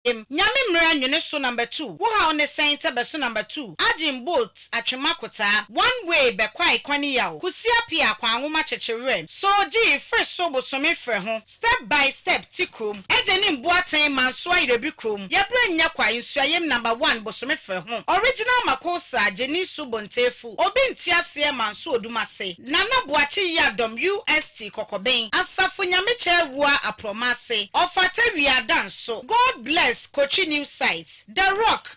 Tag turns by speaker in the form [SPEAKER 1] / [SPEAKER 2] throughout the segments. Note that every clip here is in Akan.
[SPEAKER 1] Em, Nyame mmera nwene so number two wo haw ne sɛn tɛ bɛso number two agyen bolt atwema kotaa one way bɛkwae kwane yaw kusi apia akwanwoma kyekye werɛm so gyii fre so bosome frɛ ho Step by step ti krom. Agya nim bo aten manso ayerɛbi krom yɛbrɛ nnya kwa nsuayem number one bosome frɛ ho original makosa gyeni so bontefu obi nte aseɛ manso odum ase nana boakye yiadɔm ust kɔkɔben asafo nyame kyɛ awua aprɔma ase ɔfata wia da nso God bless kotwi new site the rock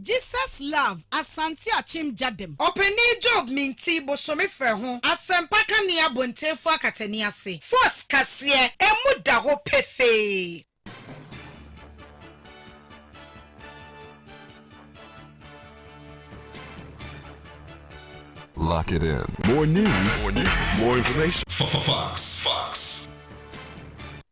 [SPEAKER 1] Jesus Love, Asante Akyem Gyadem. Ɔpanin Job Mintih bosome frɛ ho asɛmpa ka ne abontenfo akatani ase. Force kaseɛ ɛmu da hɔ pefee.
[SPEAKER 2] Lock it in. More news, more information. Fox.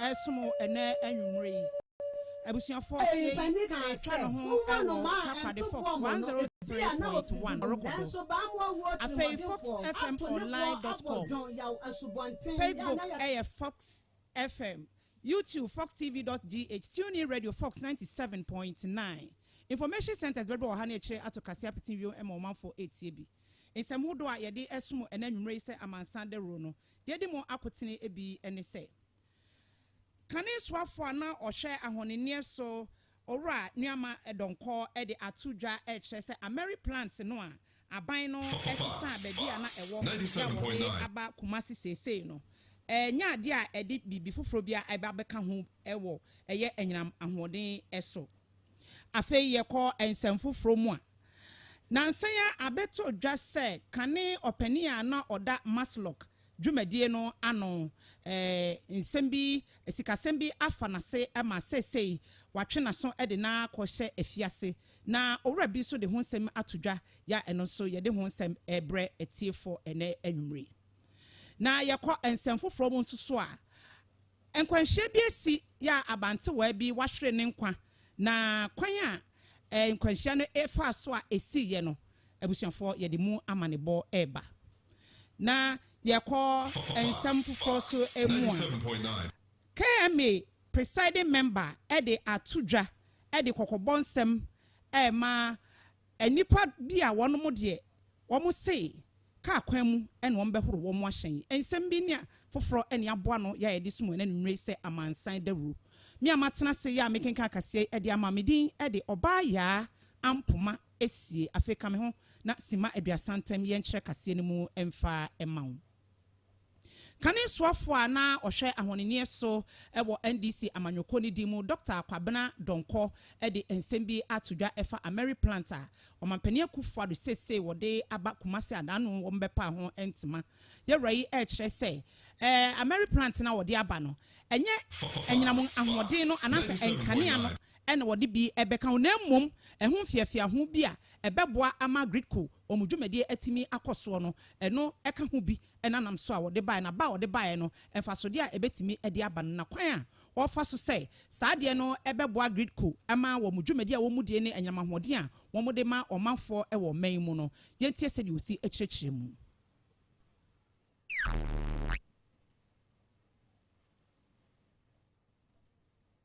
[SPEAKER 3] ɛresom ɛnnɛ anwummere yi. Abusuafo, tie yi, ɛretwa ne ho wɔ Takoradi Fox 103.1 Ɔrokobo. Afei foxfmonline dot com. Facebook ɛyɛ Fox FM. YouTube foxtv dot gh. TuneIn Radio Fox 97.9. Information centers bɛdɔ ɔha ne akyire ato kase apete wio ma ɔmanfo retie bi. Nsɛm hodoɔ a yɛde ɛresom ɛnnɛ anwummere yi sɛ amansan dawuro no, deɛ edi mu akotene bi ne sɛ. Kane soafoɔ a na ɔhwɛ ahɔnenneɛ so, Owura Nuama Donkor de ato dwa rekyerɛ sɛ Ameri plant no a aban no sesaa baabi a na ɛwɔ de a wɔde aba Kumasi seesei no nyɛ adeɛ a ɛde biribi foforɔ biara reba abɛka ho wɔ ɛyɛ anyinam ahoɔden so. Afei yɛkɔ nsɛm foforɔ mu a, nnansa yi ara abɛtɔ dwa sɛ kane ɔpanin a na ɔda Maslok dwumadie no ano eh, nsɛm bi, sikasɛm bi afa n'ase ma seesei watwe n'aso de no akɔhyɛ afiase. Na owura bi nso de ho nsɛm ato dwa, ya ɛno nso yɛde ho nsɛm rebrɛ atiefoɔ ɛnnɛ anwummere yi. Na yɛkɔ nsɛm foforɔ mu nso so a, Nkwanhyia bi asi yɛ a abantewaa bi wahwere ne nkwa, na kwan a nkwanhyia no faa so a esii yɛ no, abusuafoɔ yɛde mu amanebɔ reba. Na yɛkɔ nsɛm foforɔ so mu a, KMA presiding member de ato dwa de kɔkɔbɔ nsɛm rema Nnipa bi a wɔnom deɛ wɔse kaa kwan mu na wɔbɛhoro wɔn ahyɛn, nsɛm bi ne foforɔ na aboa ano yɛ a yɛde som wɔn anwummerɛ yi sɛ amansan dawuro. Me a matena ase yɛ a mekenkan akaseɛ yi de ama, me din de Ɔbaa Yaa Ampoma Esie. Afei ka me ho na simma Aduasa Ntam yɛnkyerɛ kaseɛ no mu mfa mma wo. Kane soafo a na ɔhwɛ ahɔnenneɛ so wɔ NDC amanyɔkuo no din mu Dɔkta Kwabena Donkor de nsɛm bi ato dwa ɛfa Ameri plant a Ɔmanpanin Akuffo Addo seesei wɔde aba Kumasi a n'ano wɔbɛpaa ho ntema yawura yi rekyerɛ sɛ Ameri plant no a wɔde aba no ɛnyɛ anyinam ahoɔden no anaasɛ nkanea no na wɔde bi bɛka ho na mmom ɛho mfeafeaho bi a ɛbɛboa ama Gridco wɔn dwumadie atumi akɔ soɔ no, ɛno ka ho bi na nam so a wɔde baeɛ, na ba a wɔde baeɛ no, mfasodeɛ a ɛbɛtumi de aba no, na kwan a wɔfa so sɛ saa adeɛ no bɛboa GRIDCO ma wɔn dwumadie a wɔdie ne anyinam ahoɔden a wɔde ma ɔmanfoɔ wɔ ɔman yi mu no. Yɛntie sɛdeɛ ɔsi kyerɛkyerɛ mu.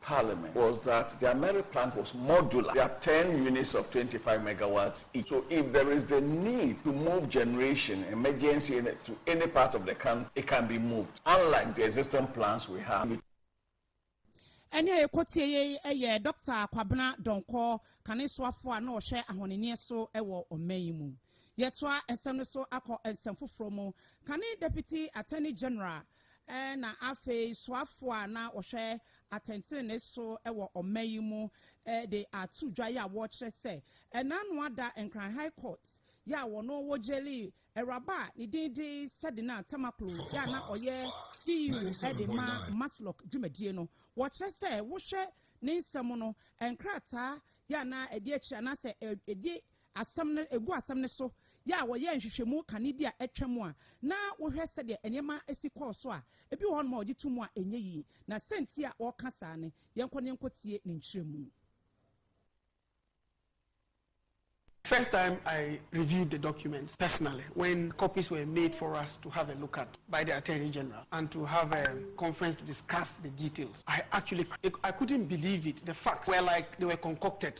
[SPEAKER 4] Parliament was that the Ameri plant was modular, their ten units of twenty five megawatts each, so if there is the need to move generation, emergency energy, to any part of the country, it can be moved, unlike the existing plans we have.
[SPEAKER 3] Ɛne a yɛkɔtie yei yɛ Dɔkta Kwabena Dɔnkɔ, kanesoafoɔ a na ɔhwɛ ahɔnenneɛ so wɔ ɔman yi mu. Yɛtoa nsɛm no so akɔ nsɛm foforɔ mu. Kane Deputy Attorney General na afei soafo a na wɔhwɛ atɛntrenee so wɔ ɔman yi mu de ato dwa yɛ a wɔrekyerɛ sɛ ɛnaanoa da Nkran High Court yɛ a wɔno wɔgyelii awuraba a ne din de Sadinah Tamaklo yɛ a na ɔyɛ CEO de ma Maslok dwumadie no. Wɔkyerɛ sɛ wohwɛ ne nsɛm no nkrataa yɛ a na ɛdi akyire anaasɛ ɛdi asɛm no, egu asɛm no so yɛ a wɔyɛɛ nhwehwɛmu kane bi a atwam a na wohwɛ sɛdeɛ nneɛma si kɔɔ so a, ebi wɔ hɔnom a wɔgye to mu a ɛnyɛ yie. Na sɛ nti a wɔka saa no, yɛnkɔ na yɛnkɔ tie ne nkyerɛmu.
[SPEAKER 5] First time I reviewed the documents personally when copies were made for us to have a look at by the Attorney General and to have a conference to discuss the details, I actually I couldn't believe it, the facts were like they were concocted.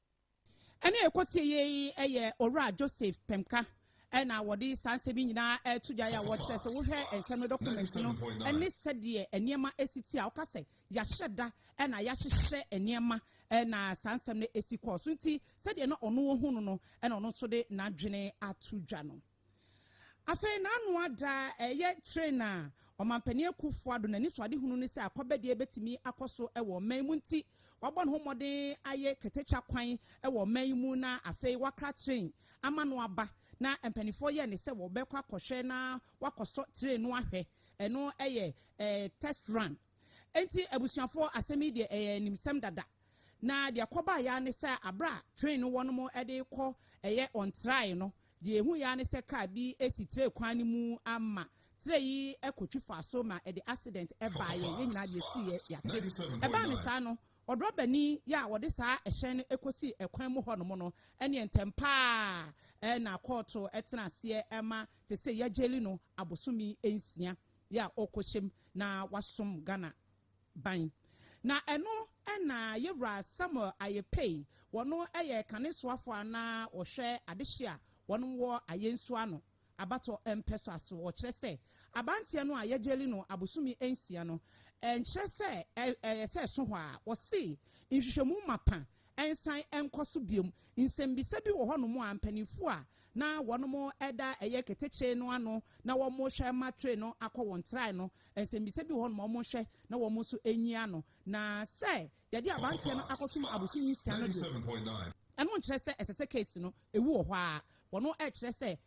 [SPEAKER 3] Ɛna ɛkɔ tie yɛ yi ɛyɛ Owura Joseph Pemka ɛna wɔde saa nsɛm yi nyinaa ɛto dwa yɛ a wɔkyerɛ sɛ wohwɛ nsɛm no dɔkumɛnti no ɛne sɛdeɛ nneɛma ɛsi ti a ɔka sɛ yɛahyɛ da ɛna yɛahyehyɛ nneɛma ɛna saa nsɛm no ɛsi kɔɔ so nti sɛdeɛ na ɔno ɔhu no no ɛna ɔno nso de n'adwene ato dwa no. Afei n'ano ada a ɛyɛ tren a Ɔmanpanin Akufo-Addo n'anisoadehunu ne sɛ akwabadeɛ bɛtumi akɔ so wɔ ɔman mu nti, wabɔ ne ho mmɔden ayɛ katakya kwan wɔ ɔman yi mu na afei wakra tren ama no aba na mpaninfoɔ yɛɛ ne sɛ wɔbɛkɔ akɔhwɛ na wakɔsɔ tren no ahwɛ, ɛno yɛ test run. Enti abusuafoɔ asɛm yi deɛ ɛyɛ animsɛm dada na deɛ ɛkɔbaeɛ ara ne sɛ aberɛ a tren no wɔnom de rekɔ ɛyɛ ɔntraeɛ no Deɛ ɛhuiɛ ara ne sɛ kaa bi si trɛ kwan no mu ama trɛ yi kɔtwi faa so ma ɛde accident baeɛ. Yɛn nyinaa deɛ ɛsiiɛ yɛate. Ɛbaa no saa no, ɔdrɔbani yɛ a ɔde saa ɛhyɛn no kɔsii ɛkwan mu hɔnom no, ɛnneɛ ntɛm pa ara na kɔɔto tenaa aseɛ ma seesei yɛagyeli no abosome nsia yɛ a ɔrekɔhyɛ mu na wasom Ghana ban. Na ɛno na yɛ wura Samuel ayɛ pei, wɔno yɛ kane soafoɔ a na wɔhwɛ adehye a wɔnom wɔ ayɛ nsuo ano abatɔ mpɛ so aso wɔ kyerɛ sɛ abanteɛ no a yɛ gyeli no abosome nsia no nkyerɛ sɛ ɛyɛ sɛ ɛso hɔ a wɔse nhwehwɛmu mapa nsan nkɔ so bio. Nsɛmmisa bi wɔ hɔnom a mpanimfoɔ a na wɔnom da ɛyɛ ketekye no ano na wɔrehwɛ ma train no akɔ wɔn trae no, nsɛmmisa bi wɔ hɔnom a wɔhwɛ na wɔn nso nyi ano. Na sɛ yɛde aberanteɛ no akɔsom abosome nsia no deɛ, ɛno nkyerɛ sɛ ɛsɛ sɛ case no, ɛwu wɔ hɔ ara. Wɔnom rekyerɛ sɛ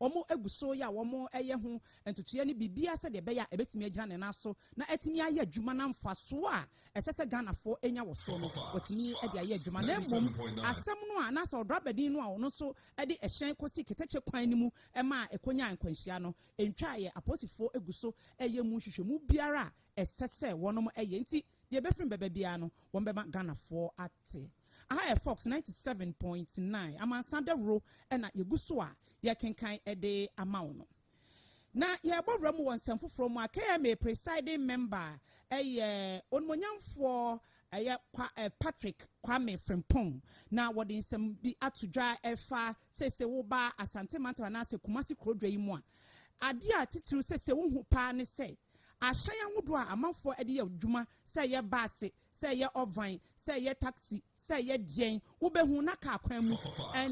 [SPEAKER 3] Wɔagu so yɛ a wɔyɛ ho ntotoeɛ ne biribiara sɛdeɛ ɛbɛyɛ a ɛbɛtumi agyina ne nan so na atumi ayɛ adwuma na mfasoɔ a ɛsɛ sɛ Ghanafoɔ nya wɔ soɔ no wɔatumi de ayɛ adwuma na mmom asɛm no a anaasɛ ɔdrabani no a ɔno nso de ɛhyɛn kɔsi ketekye kwan no mu ma ɛkɔnyaa nkwanhyia no ntwaeɛ. Apolisifoɔ gu so yɛ mu nhwehwɛmu biara a ɛsɛ sɛ wɔyɛ nti Deɛ ɛbɛfiri bɛba biara no, wɔn bɛma Ghanafoɔ ate. Aha yɛ Fox ninety seven point nine, amansan dawuro na yɛgu so a yɛrekenkan de ama wo no. Na yɛrebɔ wura mu wɔ nsɛm foforɔ mu a KMA Presiding Member yɛ Onimuonyamfoɔ ɛyɛ Kwa eh, Patrick Kwame Frimpong na wɔde nsɛm bi ato dwa ɛfa sese woba Asante Mantam anaasɛ Kumasi Kurodwa yi mu a adeɛ a titiriw sese wohu paa ne sɛ Ahyɛn ahodoɔ a amanfoɔ de yɛ adwuma, sɛ ɛyɛ baase, sɛ ɛyɛ ɔvan, sɛ ɛyɛ taksi, sɛ ɛyɛ deɛn, wobɛhu na kaa kwan mu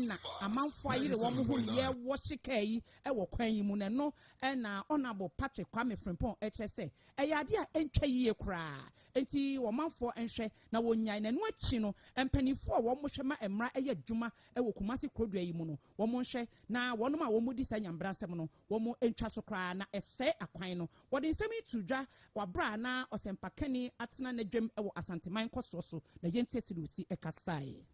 [SPEAKER 3] na amanfoɔ ayere wɔn ho reyɛ wɔhye kaa yi wɔ kwan yi mu no. Ɛno na Honourable Patrick Kwame Frimpong kyerɛ sɛ ɛyɛ adeɛ a ɛntwa yie koraa. Enti ɔmanfoɔ nhwɛ na wɔnnyae. Na ɛno akyi no, mpanimfoɔ a wɔhwɛ ma mmara yɛ adwuma wɔ Kumasi kurodua yi mu no, wɔnhwɛ na wɔnom a wɔdi saa nyambrasɛm no, Wɔantwa so koraa, na ɛsɛe akwan no. Wɔde nsɛm yi too dwa wɔ bere a na ɔsɛmpakani atena n'adwam wɔ Asanteman nkɔsoɔ so, na Yentie Silusi kasae.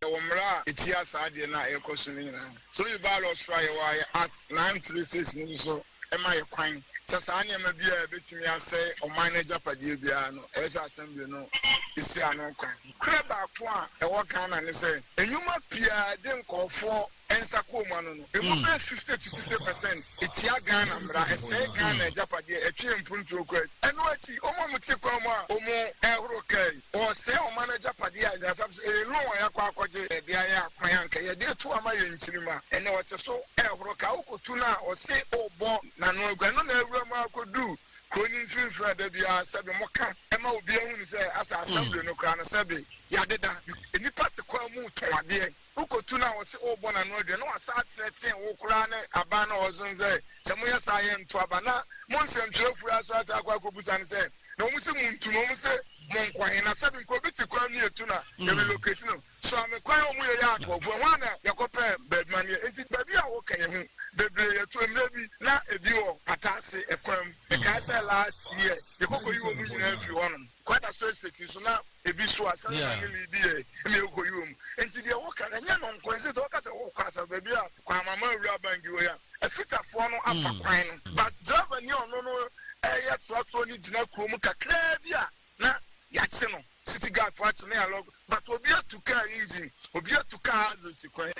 [SPEAKER 3] Yɛwɔ mmara a
[SPEAKER 6] ɛtia saa adeɛ no a ɛrekɔ so no nyinaa. Sɛ woyi bylaw soro a yɛwɔ a yɛ Act nine three six no nso ma yɛ kwan sɛ saa nneɛma biara a ɛbɛtumi asɛe ɔman no agyapadeɛ biara no, ɛyɛ sɛ Assembly no si ano kwan. Nokorɛ baako a ɛwɔ Ghana ne sɛ, nnwuma pii a ɛde nkorɔfoɔ nsa kɔɔmu ano no, ɛmu bɛyɛ fifty to sixty percent tia Ghana mmara, ɛsɛe Ghana agyapadeɛ, ɛtwe mpuntuo kɔ akyi. Ɛno akyi, wɔn a wɔte kwan mu a wɔrehoro kaa yi, Wɔresɛe ɔman no agyapadeɛ a nyansa sɛ ɛyɛ loan a yɛakɔ akɔgye, yɛde ayɛ akwan a anka yɛde atu ama yɛn nkyirimma, ɛnnɛ wɔte so rehoro kaa, wokɔtu no a wɔse worebɔ n'ano agu, ɛno na awura mu ara kɔdu kuro no mfimfini a da biara sɛbe moka ma obiara hunu sɛ asɛ assembly no koraa no sɛbe yɛadeda, nnipa te kwan mu retɔn adeɛ. Wokotu no a wɔse worebɔ n'ano adua na wasan ateatea wo koraa ne aban no a wɔso no sɛ sɛ moyɛ saa a yɛnto aba na mo nsɛmtwerɛfoɔ yi aso asan akɔ akɔbisa no sɛ na wɔn se montu no wɔn se monkɔ he na sɛbe nkɔ obi te kwan mu yɛtu no a yɛ relocate no so ame kwan a wɔyɛ yɛ akɔɔfo ɛhɔ a na yɛkɔpɛ baabi ma no yɛ nti baabi a woka yɛ ho bebree yɛto mmerɛ bi na ebi wɔ pata ase ɛkwan mu mekae sɛ last year yɛkɔ kɔyi wɔn nyinaa firi hɔnom Kɔ da so estate nso na ebi so a sɛnɛ na ne lee di yɛ na ekɔ yi wɔ mu nti deɛ wo ka no ɛnyɛ no nko ɛnsɛ sɛ wo ka sɛ wo kɔ asafo baabi a kɔ ama ma awura ban di hɔ yi a ɛfita foɔ no afa kwan no but driver ni a ɔno no ɛyɛ toatoɔ no gyina kuro mu kakraa bi a na yakye no city guard fo akye no yalɔ but obi atu car engine obi atu car axle si kwan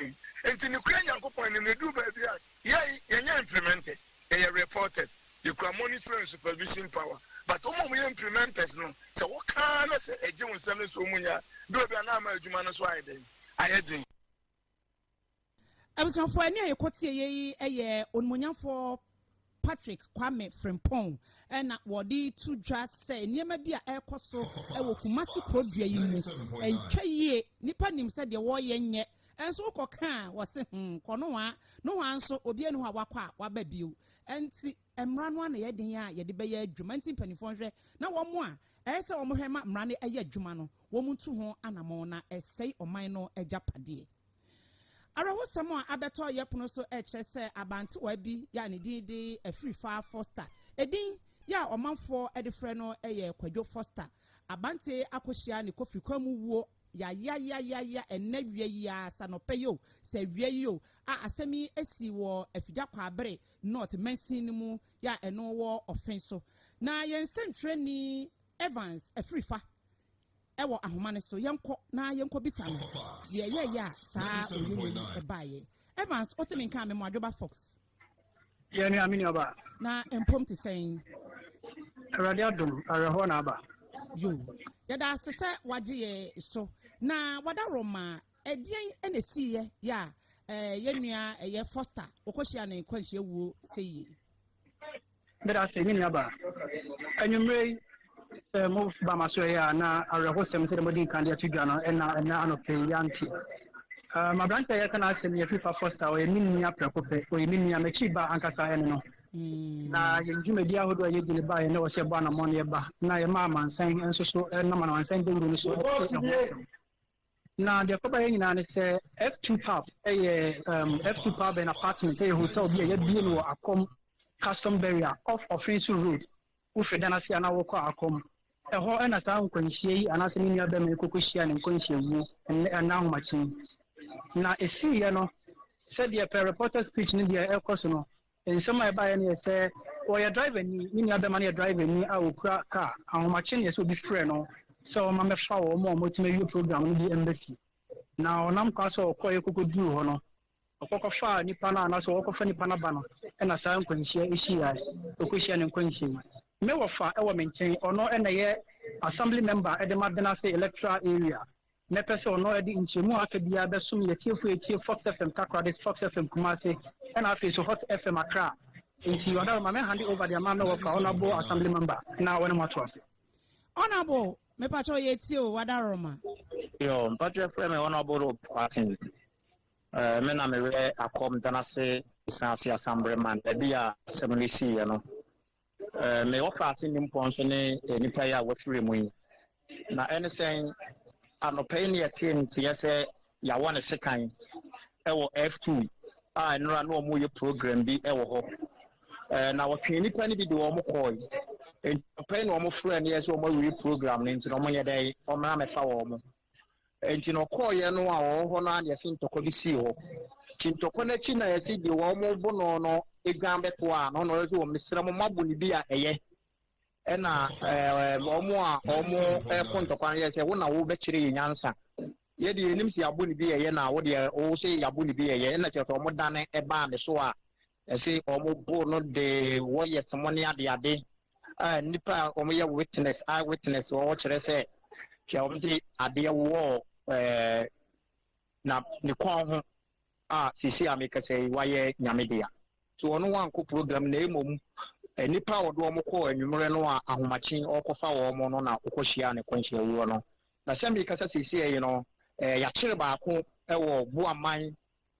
[SPEAKER 6] nti ne kura nyankopɔn anim na edu baabi a. Yɛn, yɛnyɛ implementers, yɛyɛ reporters. Yɛkura monitoring and supervision power. But wɔn a wɔyɛ implementers no, sɛ woka ara na sɛ ɛgye wo nsam no sɛ wɔnnya a, berɛ bi a na ama adwuma no nso ayɛ dɛn? Ayɛ den.
[SPEAKER 3] Abusuafoɔ, ɛnne a yɛkɔtie yɛ yi yɛ Onimuonyamfoɔ Patrick Kwame Frimpong na wɔde to dwa sɛ nneɛma bi a ɛrekɔ so wɔ Kumasi kurodua yi mu ntwa yie. Nnipa nim sɛ deɛ wɔreyɛ nyɛ Nso wokɔ ka a, wɔse hmm, kɔ nohoa, nohoa nso obiara nni hɔ a wakɔ a waba bio. Nti mmara no ano yɛ den a yɛde bɛyɛ adwuma, nti mpanimfoɔ nhwɛ na wɔn a ɛyɛ sɛ wɔhwɛ ma mmara no yɛ adwuma no, wɔn ntu ho anamɔn na ɛsɛe ɔman no agyapadeɛ. Awerɛhosɛm a abɛtɔ yɛpono so rekyerɛ sɛ abantewaa bi yɛ a ne din de Afirifaa Foster, edin yɛ a ɔmanfoɔ de frɛ no yɛ Kwadwo Foster, abante akɔhyia ne kofrikwan mu wuo Yayayayaya ɛnnɛ awia yi ara, sɛ anɔpa yi o, sɛ awia yi o, a asɛm yi asi wɔ Afigya Kwaabere North mansin no mu yi a ɛno wɔ Ɔfen so. Na yɛn sɛnkyerɛnni Evans Afirifa wɔ ahoma no so. Yɛnkɔ na yɛnkɔbisa no deɛ ɛyɛeɛ a saa oye-no yi baeɛ. Evans, wote me nka a, Memoadwoba Fox. Yɛn
[SPEAKER 7] nua, me nuaba. Na mpom te
[SPEAKER 3] sɛn? Awurade
[SPEAKER 7] adom, awerɛhoɔ na aba. Yo.
[SPEAKER 3] Yɛda ase sɛ wagye yɛ so. Na w'adaworoma, ɛdeɛn na ɛsiiɛ yɛ a yɛn nua ɛyɛ Foster, wokɔhyia no nkwanhyia wuo sɛyie?
[SPEAKER 7] Meda ase, me nuabaa. Anwummere yi, sɛ moba m'asoɛe a, na awerɛhosɛm sɛnea madi nkan de ato dwa no na ɛnnɛ anɔpa yi yɛante. M'aberante a yɛreka n'asɛm yi, Afifa Foster, ɔyɛ me nua prɛko pɛ. Ɔyɛ me nua, m'akyi ba ankasa ne no. Na yɛn dwumadi ahodoɔ a yɛdi no baeɛ na ɛwɔ sɛ yɛbɔ anammɔn na yɛba, na yɛma amansan nso so nam amansan dawuro no so te ɛho asɛm. Na deɛ kɔbɛyɛ nyinaa ne sɛ F2 pub yɛ um, F2 pub and apartment yɛ hotel bi a yɛabie no wɔ Akɔm Custom Barrier off Ɔfenso Road. Wofiri dan ase a na wokɔ Akɔm. Ɛhɔ na saa nkwanhyia yi anaasɛ me nua bɛma yi kɔkɔhyia ne nkwanhyia wuo ɛnɛ ɛnna ahomakye yi. Na ɛsiiɛ no, sɛdeɛ per reporter's pitch no deɛ ɛkɔ so no, Nsɛm a ɛbaeɛ no yɛ sɛ, Ɔyɛ driverni, ne nuabɛma no yɛ driverni a ɔkura car. Ahomakye na ɛsɛ obi frɛ no sɛ ɔmma mmɛfa wɔn a wɔatumi awie program no bi mma fie. Na ɔnam kwan so a ɔkɔeɛ kɔkɔduruu hɔ no, ɔkɔkɔfaa nnipa no anaasɛ wɔkɔfa nnipa no aba no na saa nkwanhyia yi hyiaeɛ. Ɔkɔhyiaa ne nkwanhyia yi. Me wɔfa wɔ me nkyɛn, ɔno na ɛyɛ Assembly Member de ma Benase Electoral Area. Mɛpɛ sɛ ɔno de nkyɛmu a aka biara bɛsom yɛn atiefo a etie Fox FM Takoradi, Fox FM Kumasi, ɛna afei nso Hot FM Accra. Enti Ɔdaro, ma me hande over de ama me wɔfa, Honourable Assembly Member, na wɔne mo ato ase. Honourable,
[SPEAKER 3] mepakyɛw yɛtie o, Ɔdaro ma. Yo, mpakyɛ
[SPEAKER 8] frɛ me Honourable Rob Martin. Eh, me na mewɛ akɔm danase esan ase asambre man, ɛbi a asɛm no sii yɛ no. Me wɔfa ase nimpɔn nso ne nnipa yi a wɔafiri mu yi. Na ɛne sɛn? Anɔpa yi na yɛtee nteɛ sɛ yɛawɔ no sekan wɔ F2 a nnora na wɔreyɛ program bi wɔ hɔ. Na wɔtwee nnipa no bi de wɔn kɔe. Enti anɔpa yi na wɔfrɛɛ no yɛɛ sɛ wɔawie program no nti na wɔnyɛ dɛn wɔmmra mmɛfa wɔn. Enti na ɔkɔeɛ no a ɔwɔ hɔ no ara na yɛse ntɔkwa bi sii hɔ. Nti ntɔkwa no akyi na yɛse deɛ wɔbo no no dwan bɛtoaa no na ɔyɛ sɛ mesrɛ mo mabo no bi a ɛyɛ. Ɛna wɔn a wɔkɔ ntɔkwa no yɛɛ sɛ wo na wobɛkyerɛ yɛn nyansa. Yɛ deɛ yɛnim sɛ yɛabo no bi ɛyɛ na wo deɛ wo se yɛabo no bi ɛyɛ. Ɛna kyerɛ sɛ wɔdane baa ne so a Ɛse wɔn bo no de wɔyɛ somo ne adeade a nnipa a wɔn yɛ witness, eye witness, wɔ hɔ kyerɛ sɛ hwɛ wɔn de adeɛ wɔɔ ɛɛ na ne kɔn ho a sisi a mekasa yi wayɛ nyame dea. Nti wɔn wankɔ program na mmom nnipa a wɔde wɔn kɔɔ anwummerɛ no a ahomakye ɔɔkɔfa wɔn no na ɔkɔ hyiaa ne kwanhyia wuo no. Na sɛ mekasa sisi yi no ɛɛ yakyere baako wɔ Buaman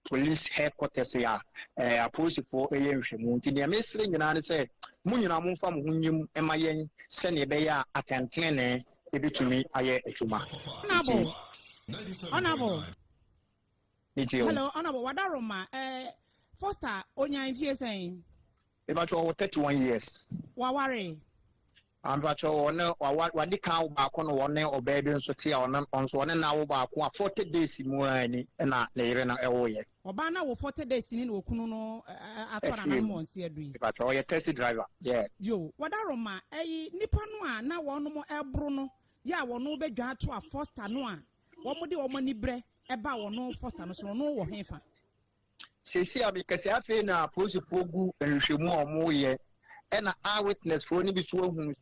[SPEAKER 8] Police headquarters a apolisifoɔ reyɛ nhwɛmu. Nti deɛ mesrɛ nyinaa ne sɛ, mo nyinaa momfa mo ho nyim ma yɛn sɛdeɛ ɛbɛyɛ a atɛntenenee bɛtumi ayɛ adwuma. Honourable,
[SPEAKER 3] honourable.
[SPEAKER 8] Metie wo. Hello, honourable, Wadaroma,
[SPEAKER 3] eh, Foster, ɔnya mfie sɛn? Mepakyɛw ɔwɔ
[SPEAKER 8] thirty one years. Waware?
[SPEAKER 3] Ah
[SPEAKER 8] mepakyɛw ɔne waware wade kan awo baako na ɔne ɔbaa bi nso te a ɔno nso ɔne no awo baako a forty days mu ara ni na ne yere no ɛwo yɛ. Ɔbaa no awo forty days
[SPEAKER 3] ni na okunu no atɔ nananom wɔn se adu yi. Mepakyɛw ɔyɛ taxi driver
[SPEAKER 8] yeah. Yo wadaro ma
[SPEAKER 3] ɛyi nipa no a na wɔnom ɛboro no yɛ a wɔno bɛ dwa ato a foster no a wɔn de wɔn ani brɛ ɛba wɔno foster no so no ɔno wɔ he fa? Seesei
[SPEAKER 8] a mekasa yi, afei na apolisifoɔ gu nhwehwɛmu a wɔreyɛ, ɛna eye witnessfoɔ no bi nso ahu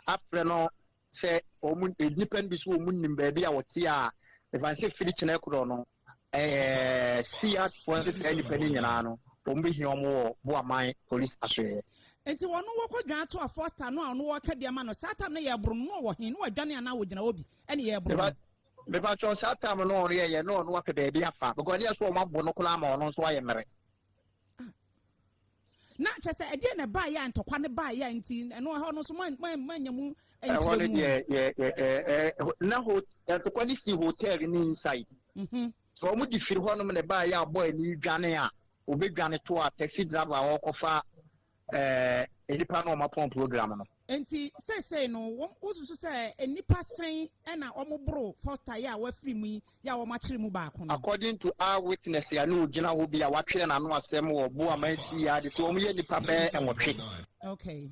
[SPEAKER 8] afrɛ no sɛ wɔn, nnipa no bi nso wɔn nim baabi a wɔte a, ɛfa no sɛ firi kyena korɔ no, ɛɛ, siatfoɔ ne saa nnipa no nyinaa no, wɔn bɛhia wɔn wɔ Boaman polisi asoɛeɛ. Enti wɔn wɔkɔ
[SPEAKER 3] dwan to a Foster no a wɔn wɔreka bi ama no saa tam no yɛreboro no, na ɔwɔ he, na wadwane anaa ɔgyina hɔ bi, ɛne yɛreboro no. Mepakyɛw saa
[SPEAKER 8] tam no ɔno yɛyɛ na ɔno apɛ baabi afa because ɛnyɛ sɛ wɔn abo no koraa ama ɔno nso ayɛ mmere. Ah.
[SPEAKER 3] na kyɛ sɛ ɛdeɛ na ɛbaa yɛ a ntɔkwa no baa yɛ a nti ɛno ɛhɔ no nso moanya mu nkyerɛ mu ɛhɔ
[SPEAKER 8] no na ntɔkwa no si hotel no inside mhm. sɛ wɔn de firi hɔnom na ɛbaa yɛ a bɔɔl no dwane a wɔbɛdwane to a taxi driver a wɔkɔfa nnipa no a wɔapɔn program no. Enti
[SPEAKER 3] seesei no, wosusu sɛ nnipa sɛn na wɔboro Foster yi a wafiri mu yi yi a wɔakyere mu baako no? According to eye
[SPEAKER 8] witness a na ogyina hɔ bi a watwerɛ n'ano asɛm wɔ bo a mansi yi ara de sɛ wɔyɛ nnipa bɛyɛ nwɔtwe. Okay.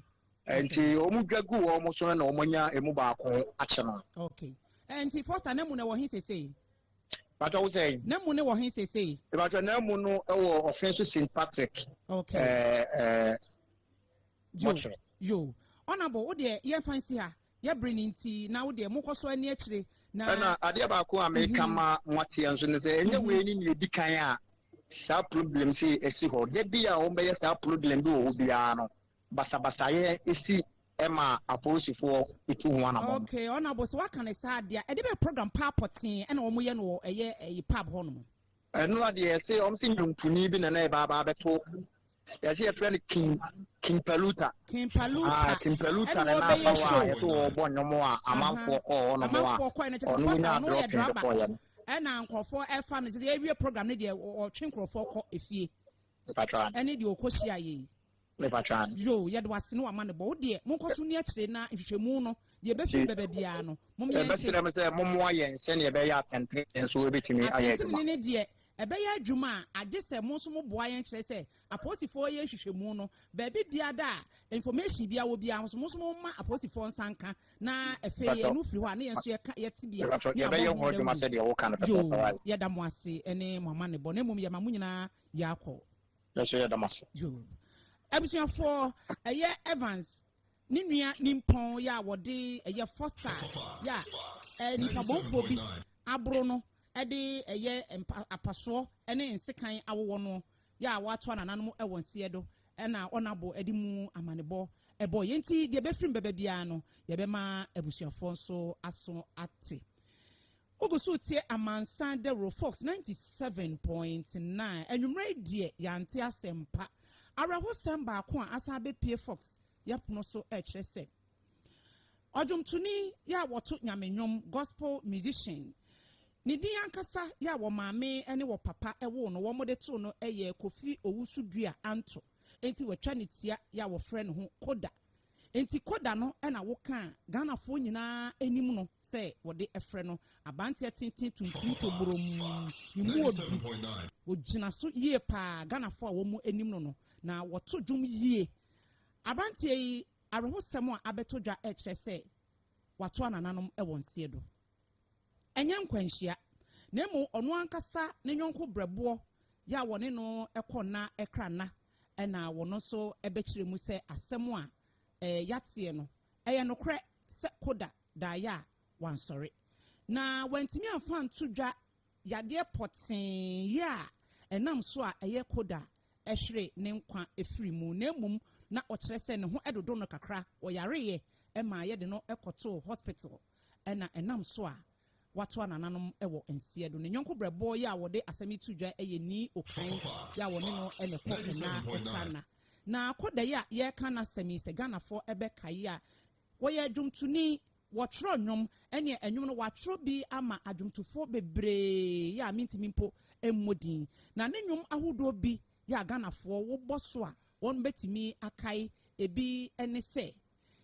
[SPEAKER 3] Enti
[SPEAKER 8] wɔdwa guu wɔn so no na wɔanya emu baako akyɛ no. Okay. Enti
[SPEAKER 3] Foster no amu no ɛwɔ he seesei? Patro wo
[SPEAKER 8] sɛn? Namu no wɔ he sesei?
[SPEAKER 3] Patro Namu no
[SPEAKER 8] wɔ ɔfe so Saint Patrick ɛɛ
[SPEAKER 3] mɔkyerɛ. Yo Honourable wo deɛ yɛn fa nsi ha yɛ bere no nti na wo deɛ mo kɔ so ani akyire na. Ɛna adeɛ
[SPEAKER 8] baako a meka mhm. ma mo ateɛ nso no sɛ ɛnyɛ mhm. wei ne nea edi kan a saa problem sei ɛsi hɔ da bi a wɔn bɛyɛ saa problem bi wɔ hɔ biara no. basabasayɛ si ma apolisifoɔ tu ho anamɔn no. Okay honourable sɛ waka
[SPEAKER 3] no saa deɛ a, ɛde bɛyɛ program paa pɔtee ɛna wɔn yɛ no wɔ ɛyɛ ɛyi pub hɔ nom. Ɛnoa deɛ yɛse
[SPEAKER 8] wɔn se nwontonii bi na na ɛba aba abɛto yɛse yɛfrɛ no king king paluta King Paluta ah king paluta ɛna na na aba wɔbɛyɛ hɔ a show yɛse no. wɔbɔ nnwom a Ahaa amanfoɔ kɔɔ hɔ nom a amanfoɔ kɔɛ no kyɛ sɛ ɔno first a wonyaa ɔno yɛ dropping de drama kɔɔeɛ no. ɛna nkorɔfoɔ
[SPEAKER 3] ɛfa no sɛ sɛ yɛwie program no deɛ ɔ ɔtwe nkorɔfoɔ kɔ efie mpakyɛw ane. ɛne
[SPEAKER 8] deɛ ɔkɔ hyiaeɛ
[SPEAKER 3] yi. Me pa traa
[SPEAKER 8] no. Yoo yɛde wase ne
[SPEAKER 3] wamanebɔ wo deɛ monkɔ so nni akyire na nhwehwɛmu no deɛ ɛbɛfiri bɛba biara no mom yɛn nte. Yɛbɛsrɛ mo sɛ mommoa
[SPEAKER 8] yɛn sɛdeɛ ɛbɛyɛ a atɛntenenee nso ɛbɛtumi ayɛ adwuma. Atɛntenenee deɛ ɛbɛyɛ
[SPEAKER 3] adwuma a agye sɛ mo nso moboa yɛn kyerɛ sɛ apolisifoɔ yɛ nhwehwɛmu no baabi biara da a information biara wɔ biara nso mo nso momma apolisifoɔ nsa nka na afei ɛno firi hɔ a na yɛn nso yɛka yɛn tebea ne abɔ ho
[SPEAKER 8] dawuro. Yoo yɛda mo
[SPEAKER 3] ase ne mo amanebɔ na mmom yɛma mo nyinaa yɛ akɔ. Nanso yɛda mo
[SPEAKER 8] ase. June.
[SPEAKER 3] Abusuafoɔ, ɛyɛ Evans ne nua nimpɔn yɛ a wɔde ɛyɛ Foster yɛ a ɛɛ nipabɔnfoɔ bi aboro no ɛde ɛyɛ mpa apasoɔ ɛne nsekan awowɔ no yɛ a wɔato anananom ɛwɔ nseɛ do ɛna ɔnabo ɛde mu amanebɔ ɛbɔ yɛn ti deɛ ɛbɛfirim bɛbɛ biara no yɛbɛma abusuafoɔ nso aso ate. Wogu so retie amansan dawuro Fox ninety seven point nine. Anwumerɛ yi deɛ yɛante asɛmpa. Awerɛhosɛm baako a asan abɛpue Fox yɛpono so rekyerɛ sɛ ɔdwomtoni yi a wɔto Nyame nnwom, gospel musician, ne din ankasa yi a wɔ maame ne wɔ papa woo no, wɔde too no yɛ Kofi Owusu-Dua Anto, enti wɔatwa ne tia yi a wɔfrɛ ne ho Koda Enti kɔ da no na wokaa Ghanafoɔ nyinaa anim no sɛ wɔde frɛ no Abanteɛ tenten tuntum toborɔmm ne mu wɔ du. Ɔgyina so yie paa Ghanafoɔ a wɔn anim no no na wɔto dwom yie. Abanteɛ yi awerɛhosɛm a abɛtɔ dwa rekyerɛ sɛ wato anananom wɔ nseɛ do. Ɛnyɛ nkwanhyia, na mmom ɔno ankasa ne yɔnko berɛboɔ yɛ a wɔne no kɔ nna kra nna na wɔn nso bɛkyerɛ mu sɛ asɛm a yɛateɛ no, ɛyɛ nokorɛ sɛ Koda daeɛ a wansɔre. Na wantumi amfa anto dwa yadeɛ pɔtee yɛ a ɛnam so a ɛyɛ Koda hwere ne nkwa firii mu, na mmom na ɔkyerɛ sɛ ne ho dodo no kakra, ɔyareeɛ maa yɛde no kɔtoo hospital. na ɛnam so a watoa nananom wɔ nseɛ do. Ne yɔnko brɛboɔ yi a wɔde asɛm yi to dwa yɛ Nii Okan yi a wɔne no na ɛkɔ Ɛnaa ɛka nna. Na kɔ da yi a yɛreka n'asɛm yi, sɛ Ghanafoɔ bɛkae a, wɔyɛ dwomtoni, wɔtwerɛ nnwom, ɛneɛ nnwom no wɔatwerɛ bi ama adwomtofoɔ bebree yi a mentumi mpo mmɔ din. Na ne nnwom ahodoɔ bi yi a Ghanafoɔ wobɔ so a wɔbɛtumi akae bi ne sɛ.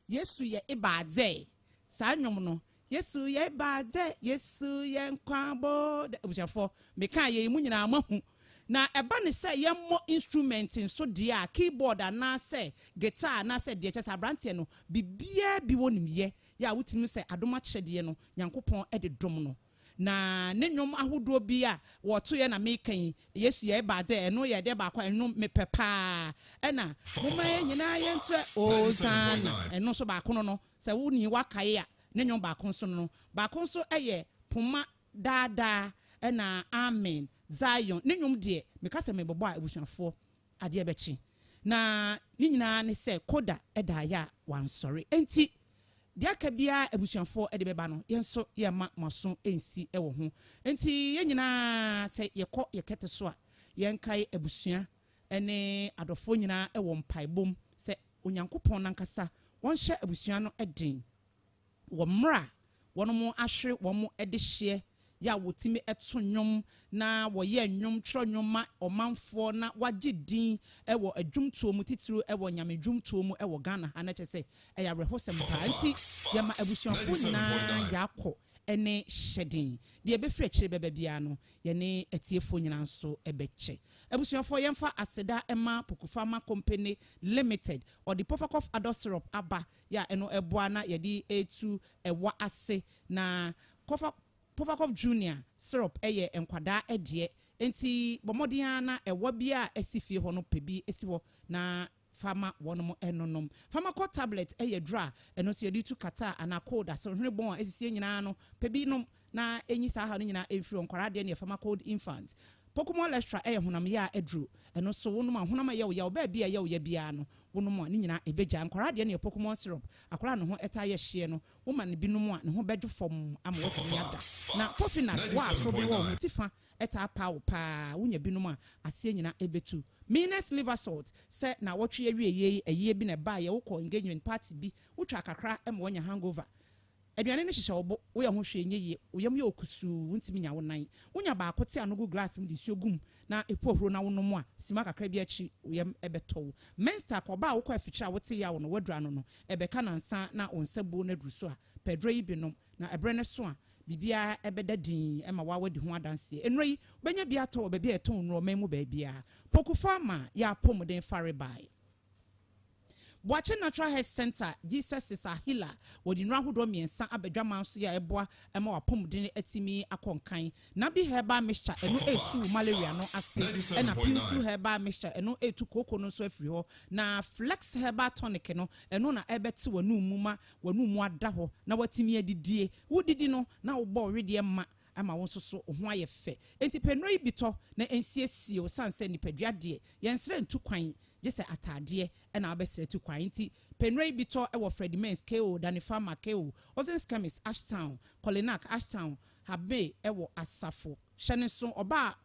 [SPEAKER 3] Yesu yɛ ebɛadzɛ? Saa ndwom no, Yesu yɛ ebɛadzɛ, Yesu yɛ nkwa bɔɔd Ebusuafo, mekãa yei, mo nyina moahu. Na ɛba no sɛ yɛmmɔ instrument nso deɛ a, keyboard anaasɛ guitar anaasɛ deɛ, kyerɛ sɛ aberanteɛ no, biribiara bi wɔnim yɛ, yɛ a wotumi hu sɛ adom akyɛdeɛ no, Nyankopɔn de dom no. Na ne nwom ahodoɔ bi a wɔtoeɛ na meka yi, Yesu yɛe baa dɛ, ɛno yɛ ɛdeɛ baako a ɛno mepɛ pa ara. Ɛna, Momma yɛn nyinaa yɛntoɛ Osanna, ɛno nso baako no no, sɛ wo nii woakae a, ne nwom baako nso no no. Baako nso yɛ Poma Daa Daa, ɛna Amen, Zion. Ne nwom deɛ, meka sɛ mebɛbɔ a, abusuafoɔ, Adeɛ bɛkye. Na ne nyinaa ne sɛ Koda da ayɛ a wansɔre. Enti deɛ aka biara abusuafoɔ de bɛba no, yɛn nso yɛremma mo aso nsi wɔ ho. Enti yɛn nyinaa sɛ yɛkɔ yɛn kɛtɛ so a, yɛnkae abusua ne adɔfoɔ nyinaa wɔ mpaebɔ mu sɛ Onyankopɔn no ankasa ɔnhyɛ abusua no den wɔ mmerɛ a wɔahwere wɔn adehyeɛ, yɛ a wɔtumi to nnwom na wɔyɛ nnwom, twerɛ nnwom ma ɔmanfoɔ na wɔagye din wɔ adwomtoɔ mu titire wɔ Nyame dwomtoɔ mu wɔ Ghana ha, na kyerɛ sɛ ɛyɛ awerɛhosɛm paa nti yɛma abusuafoɔ nyinaa yɛakɔ ne hyɛden, deɛ ɛbɛfiri akyire bɛba biara no yɛne atiefoɔ nyinaa nso bɛkyɛ. Abusuafoɔ yɛmfa aseda ma Pokufarma Company Limited, ɔde Pofakɔf Adult Syrup aba yɛ a ɛno boa na yɛde tu ɛwa ase. Na Cough Cough Cough Junior syrup yɛ nkwadaa ɛdeɛ, enti bɔ mmɔden ara na ɛwa biara a ɛsi fie hɔ no pɛ bi si hɔ na fa ma wɔn nnonom. Pharmacol Tablet yɛ aduro a ɛno nso yɛde tu kata anaa cold, asohwene bɔn a ɛsisi nyinaa no, pɛ bi nom na enyi saa haw no nyinaa mfiri hɔ, nkwadaa deɛ neɛ fama cold infant. Pocumol Lechra yɛ honam yea aduro, ɛno nso wonom a honam a ɛyɛ wo yaw baabi a ɛyɛ wo ya biara no wonom a ne nyinaa ɛbɛgya. Nkwadaa deɛ neɛ pocumol syrup, akwadaa a ne ho taa yɛ hyeɛ no, wo ma no bi nom a ne ho bɛdwo fɔmm ama watumi ada. Na coffee nut, wo a asoɔden wɔ wo ho ti fa taa pa wo pa ara, wonya bi nom a aseɛ nyinaa ɛbɛtu. Minas liver salt, sɛ naawɔtwe awieɛ yi ayie bi na ɛbaeɛ, wokɔ engagement party bi, wotwaa kakra ma wanya hangover, Aduane no hyehyɛ wo bo, woyɛ ho hwee nyɛ yie, wo yam yɛ wo kusuu, wontumi nnya wo nan. Wonya baako te ano gu glass mu de nsuo gu mu na ɛpu ahuro na wonom a, simma kakra bi akyiri wo yam bɛtɔ wo. Menstak, ɔbaa a wokɔ afikyire a wote yaw no, woaduru ano no, ɛbɛka nansa na wo nsa buo no aduru so a, pɛ aduro yi bi nom, na ɛberɛ no so a, biribiara bɛda dinn ma wo a woadi ho adanseɛ. Nnuro yi, wobɛnya bi atɔ wɔ baabi a yɛtɔn nnuro man mu baabiara. Poku Pharma yɛ apɔmuden fa rebae. Boakye Natural Health Centre, Jesus is our Healer, wɔde nnuro ahodoɔ mmiɛnsa aba adwaman so yi a ɛboa ma w'apɔmuden atumi akɔ nkan. Nabi Herbal Mixture, ɛno retu malaria no ase, ɛna Piusu Herbal Mixture, ɛno retu kooko no nso afiri hɔ, na Flex Herbal Tonic no, ɛno na ɛbɛte w'anum mu ma w'anum mu ada hɔ na woatumi adidie. Wodidi no na wobɔ wo wedeɛ ma ama wo nso so wo ho ayɛ fɛ. Enti pɛ nnuro yi bi tɔ na nsiesie wo sane sɛ nipadua deɛ yɛnsrɛ ntu kwan gye sɛ ataadeɛ na wobɛsrɛ tu kwan. Enti pɛ nnuro yi bi tɔ wɔ Freddie Mains, KO, Danny Farmer, KO, Ozen's Chemist, Ashtown, Kolinak, Ashtown, Habmay wɔ asafo hyɛ no nso ɔba a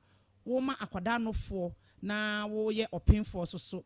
[SPEAKER 3] woma akwadaa nofoɔ na woyɛ ɔpenfoɔ nso so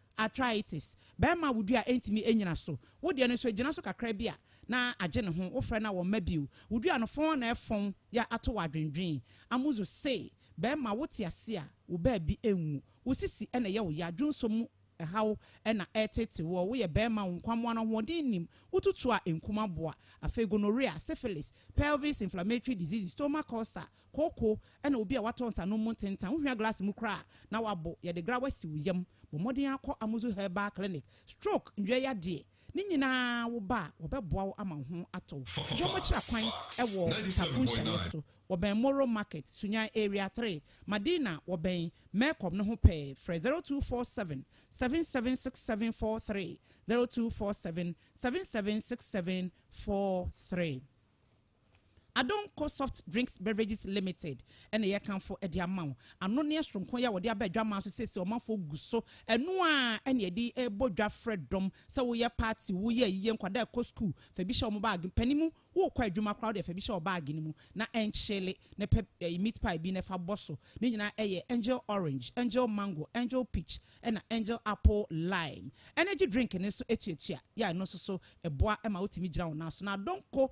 [SPEAKER 3] Arthritis, Bɛɛma wo dua ntumi nnyina so, wo deɛ no nso ɛgyina so kakra bi a na agye ne ho, wo frɛ no a wɔmma bio, wo dua no fɔn na ɛfɔn ya ato wo adwendwen, Amuzu say, Bɛɛma wo te ase a wo baabi nwu, wo sisi na ɛyɛ wo ya, dwonsɔ mu haw na ɛreteetew woɔ, wo yɛ bɛɛma wo nkwammoa no ahoɔden nnim, wo tutu a ɛnkum aboa, afei gonorrhea, syphilis, pelvis inflammatory diseases, stomach ulcer, kooko, ɛna obi a watɔ nsanom mu ntentan, wohwia glass mu koraa a, na wabow, yɛde grawa si wo yam, bɔ mmɔden ara kɔ Amuzu Herbal Clinic, stroke, ndua yadeɛ, ne nyinaa wo ba a, wɔbɛboa wo ama wo ho atɔ wo. Wɔkyerɛ kwan wɔ Tafo nhyianeɛ so, wɔbɛn Moro Market, Sunyani Area three, Madina, wɔbɛn Mercom no ho pɛɛ, frɛ zero two four seven, seven seven six seven four three, zero two four seven, seven seven six seven four three. Adom Co Soft Drinks Beverages Limited na yɛrekamfo de ama wo. Anonneɛ soronko yi a wɔde aba adwaman so seesei ɔmanfoɔ gu so ɛno ara na yɛde rebɔ dwa frɛ dɔm sɛ woyɛ party, woyɛ ayiyɛ, nkwadaa rekɔ sukuu, fa bi hyɛ wɔn baage, mpanin mu worekɔ adwuma koraa wodeɛ fa bi hyɛ wo baage no mu na ɛnkyele na pɛ meat pie bi na fa bɔ so. Ne nyinaa yɛ Angel Orange, Angel Mango, Angel Peach, Ɛna Angel Apple Lime Energy Drink no nso tuatua yɛ a ɛno nso so ɛboa ma wotumi gyina wo nan so. Na Adonko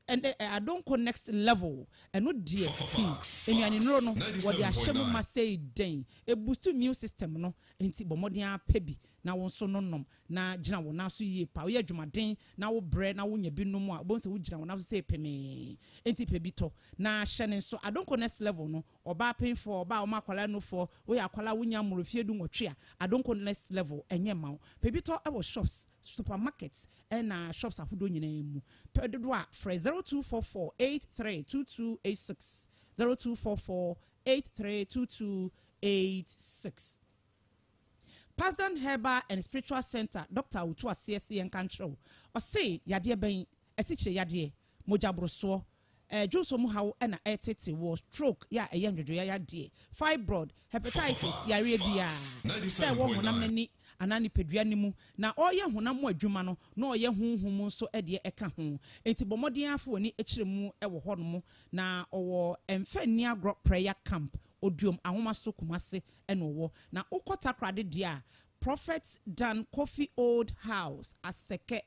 [SPEAKER 3] ɛnɛ Adonko Next Level ɛno deɛ hmm, nnuanennuro no wɔde ahyɛ mu ma sei dɛn ɛboost immune system no nti bɔ mmɔden ara pɛ bi na wo nso no nom na gyina wo nan so yie pa woyɛ adwumaden na wo brɛ na wonya bi nom a wobɛhu sɛ wogyina wo nan so sɛ pemee nti pɛ bi tɔ na hyɛ ne nso Adonko Next Level no Ɔbaa penfoɔ, ɔbaa ɔma akwadaa nufoɔ, woyɛ akwadaa wonya mmoro mfeɛ du nwɔtwe a, Adonko next level ɛnyɛ mma wo. Pɛ bi tɔ wɔ shops, supermarkets ɛna shops ahodoɔ nyinaa mu. Pɛ dodoɔ a, frɛ zero two four four eight three two two eight six, zero two four four eight three two two eight six. Pasden Herbal and Spiritual Centre Doctor a ɔtu aseɛ se yɛnka nkyerɛ wo, ɔse yadeɛ bɛn asikyire-yadeɛ, mogyaborosoɔ, dwonsɔ mu haw na ɛretete wɔ stroke, yɛ a ɛyɛ ndwodwoyayadeɛ, fibroid, hepatitis, yareɛ biara, sɛ ɛwɔ honam no ani anaa nipadua no mu, na ɔreyɛ honam mu adwuma no na ɔreyɛ honhom mu nso deɛ ɛka ho. Enti bɔ mmɔden ara fa w'ani kyerɛ mu wɔ hɔnom, na ɔwɔ Mfa Nni Agorɔ Prayer Camp, Oduom Ahomaso, Kumasi na ɔwɔ. Na wokɔ Takoradi deɛ a, Prophet Dan Kofi Old House, Asɛkɛ.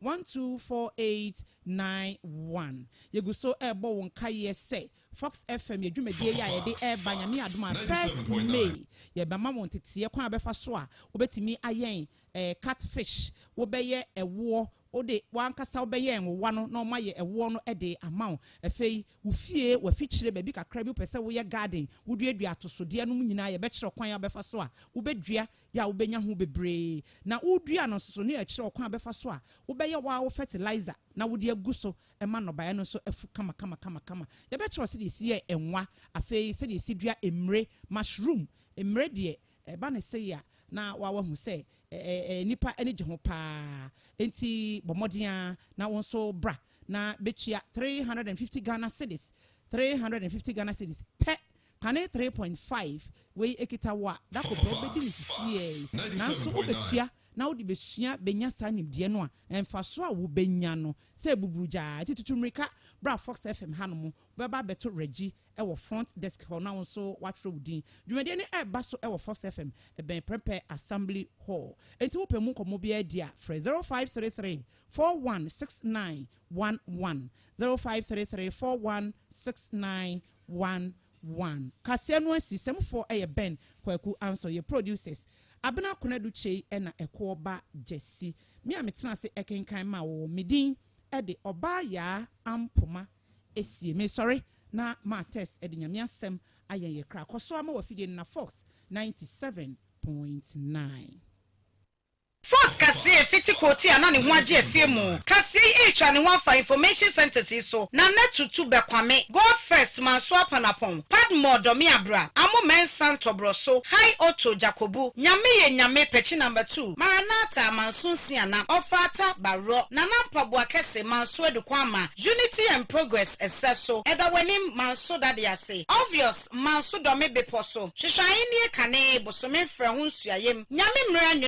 [SPEAKER 3] One two four eight nine one Yegu so rebɔ wo nkaeɛ sɛ Fox FM yɛ dwumadie yi a yɛde reba Nyame adom a first May yɛbɛma wo nteteɛ kwan a wobɛfa so a wobɛtumi ayɛn cut fish, wobɛyɛ ɛwoɔ, wode w'ankasa wobɛyɛ nwowa no na wɔayɛ ɛwoɔ no de ama wo. Afei wo fie, w'afikyire, baabi kakra bi wopɛ sɛ woyɛ garden, woduadua atosodeɛ nom nyinaa yɛbɛkyerɛ wo kwan a wobɛfa so a wobɛdua yɛ a wobenya ho bebree, na wodua no nso so no yɛ kyerɛ ɔkwan a wobɛfa so a wobɛyɛ wo ara wo fɛtilaiza na wode agu so ma nnɔbaeɛ no nso afu kamakamakama. Yɛbɛkyerɛ wo sɛdeɛ yɛsi yɛ nwa, afei sɛdeɛ yɛsi dua mmire, mushroom, mmire deɛ ɛba no sei a na woahu sɛ nnipa ani gye ho pa ara, enti bɔ mmɔden ara na wo nso bra na bɛtua three hundred and fifty Ghana cedis, three hundred and fifty Ghana cedis, pɛ Kane three point five wei ekita wo a da kɔ pɛ wobɛdi no sisiɛɛi nanso wobɛtua na wode bɛsua bɛnya saa nimdeɛ no a mfasoɔ a wobɛnya no sɛ buburu gyaa nti tutu mmirika bra Fox FM hanom wobɛba abɛto Reggie wɔ front desk hɔ na wo nso woatwerɛ wo din dwumadie no ɛreba so wɔ Fox FM ɛbɛn Prempeh Assembly Hall nti wopɛ mu nkɔmmɔ biara di a frɛ zero five three three four one six nine one one zero five three three four one six nine One one kaseɛ no asi sɛm foɔ yɛ Ben kwaku ansɔ yɛ producers Abena konadu kyei na ɛkoɔ ba gyasi me a me tena ase kenkan ma wo me din de ɔbaa yaa ampoma ɛsie me sɔre na ma tess de nyame asɛm ayɛn yɛ kra kɔso a ma wafidie no na fox ninety seven point nine.
[SPEAKER 1] Force kaseɛ fiti kootie a na ne ho agye afie mu kaseɛ yi retwa ne ho afa information centres yi so na na tutu bɛ kwame, God first, manso apanapɔn, padmore dɔme abra, amo mɛnsa ntɔborɔ so, high auto, jakobu, nyame yɛ nyame, pɛkyi number two, maranatha, manso nsia na, ɔfaata, barɔ, nana mpaboa kɛse, manso adu kwan ma, unity and progress, ɛserɛ so, ɛda w'anim, manso dade ase, obvious, manso dɔme bepɔ so, hwehwɛ ahennie kane, bosome mfrɛ ho nsuayɛm, nyame mmerɛ,